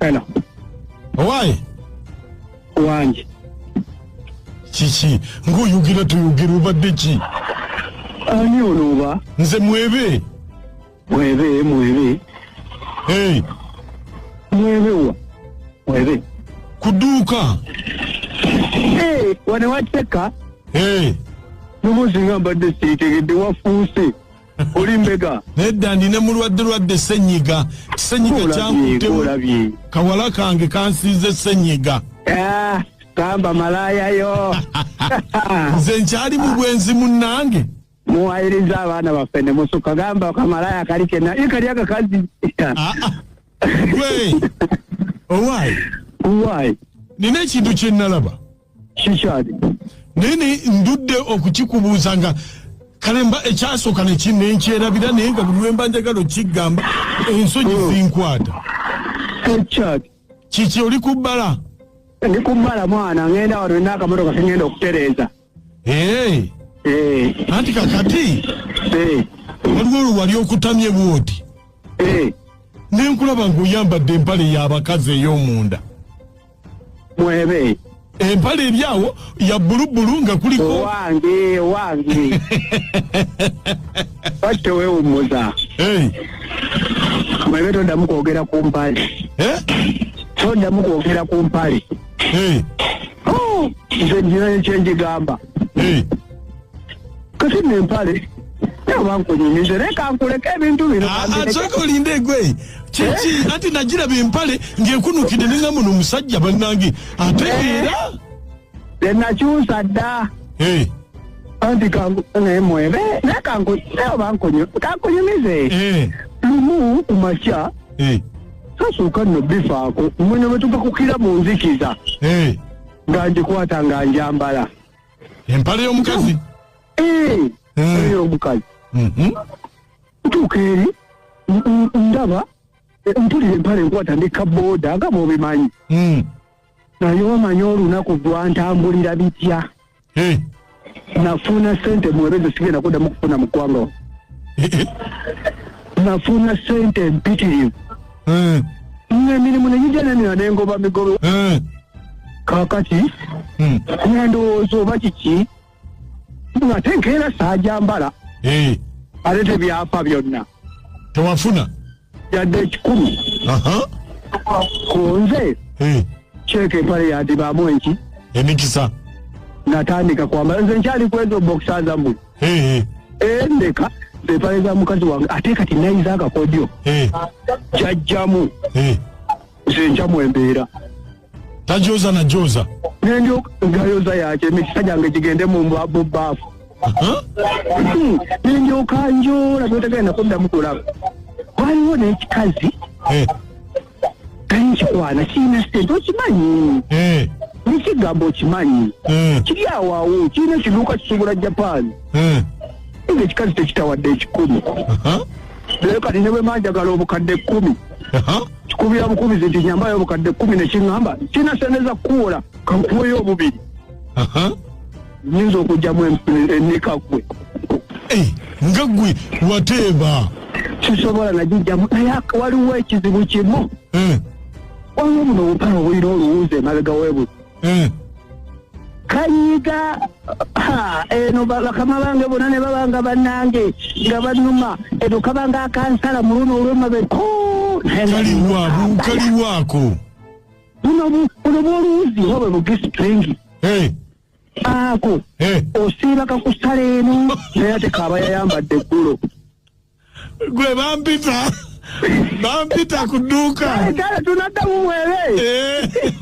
Hello. Owaye. Wanje. Kiki ng'oyogera toyogera obadde ki? Ani ono oba? Nze mwebe. Mwebe mwebe. Hey. Mwebe wa? Mwebe. Kuduuka. Hey, wano wateka. Hey. Nomuzinga mbadde sitegedde wafuuse. oli mbega nedda ndi ne mulwadde lwadde senyiga senyiga kyankutemu kawala kange kansiize senyiga ah, kamba malaya yo nze nkyali mu bwenzi munnange muwayiriza abaana baffe ne musuka gamba kamalaya kali kena i kali akakazi ah, ah. gwe owayi owayi nina ekintu kye nnalaba kikyali naye ndudde okukikubuuza nga kale mba ekyasooka nenkyerabira naye nga buli lwemba njagala okikigamba ensonyi hmm. zinkwata ekyali kiki oli ku bbala ndi ku bbala mwana ngenda wano nina akamotoka kengenda okutereeza eh. Eh. anti kakati eh. waliwo olwo wali okutamye bwoti nenkulaba ngaoyambadde empale yabakazi ey'omunda mwebe empala eri awo ya bulubulu nga kuliko wange wange batte wewummuza mwebe toddamu kwogera ku mpale eh? toddamu kwogera ku mpale nze nina ekyengigamba kati no empale bankunyumize naye kankuleka ebintu bino asooka olinde egwe kiki eh? anti nagiraba empale ng'ekunukidde ninga muno omusajja bannange ate eh? era enakyusa dda eh. anti kankunemwebe naye kankunyumize lumu ku makya sasooka nno bifaako mwene bwe tugakukira mu nzikiza nga ngikwata nga njambala empale y'omukazi Eh, Eh. eyo omukazi Mhm. ntuuka eri n- n- ndaba eh, mpulira empale enkwata ndi kabooda nga bwobimanyi Mm. naye omanya olunaku gwantambulira bitya Eh. nafuna sente mwebezo sigenda kuddamu kufuna mu ggwanga wano. Eh, eh. nafuna sente mpitirivu Eh. ng'emirimu ne gigyananira nengoba migobe Eh. kakati Hmm. nga ndowooza oba kiki ngate nkeera saajambala Eh, ate tebyafa byonna tewafuna yadde ekikulu aha ku nze Eh, kyeka empale yadibaamu enki emikisa natandika kwambala nze nkyali kwezo bokisa zamu Eh, eh, endeka empale za mukazi wange ate kati nayiza akakodyo eh, jajjamu eh. kyenkya mu embeera tajoza na joza nendyogayoza yakye emikisa gyange gigende mu mbwabu baafu hmm. nendyoka njola notegenda kuddamu kulaba waliwo n'ekikazi eh. kikwana kirina sente okimanyi eh. nekigambo okimanyi eh. kiri awaawo kirina ekiduuka kisobola japan nga ekikazi tekitawadde ekikulu naye kati ne bwe manjagala obukadde kkumi kikubira bukubizi nti nyambayo obukadde kkumi ne kiŋŋamba kirina sente za kukuwola kankuweyo obubiri nyinza okugyamu eneka ggwe eh, nga ggwe wateeba kisobola nagijjamu naye waliwo ekizibu kimu eh. waliwo buno obupala obulina oluwuuza emabega webuzi Mm. kayiga ha, eno ba- bakama bange bona ne babanga banange nga banuma eno kabanga akansala muluno olwemabe Kaliwa, bu- kaliwaako. buno bu- buno bwoluwuzi oba bwe bugisitringi Eh, ako eh. osiiba kakusala eno naye ate kaaba yayambadde eggulo Gwe bampita. Bampita ku dduuka. kale tunaddamu mwere Eh.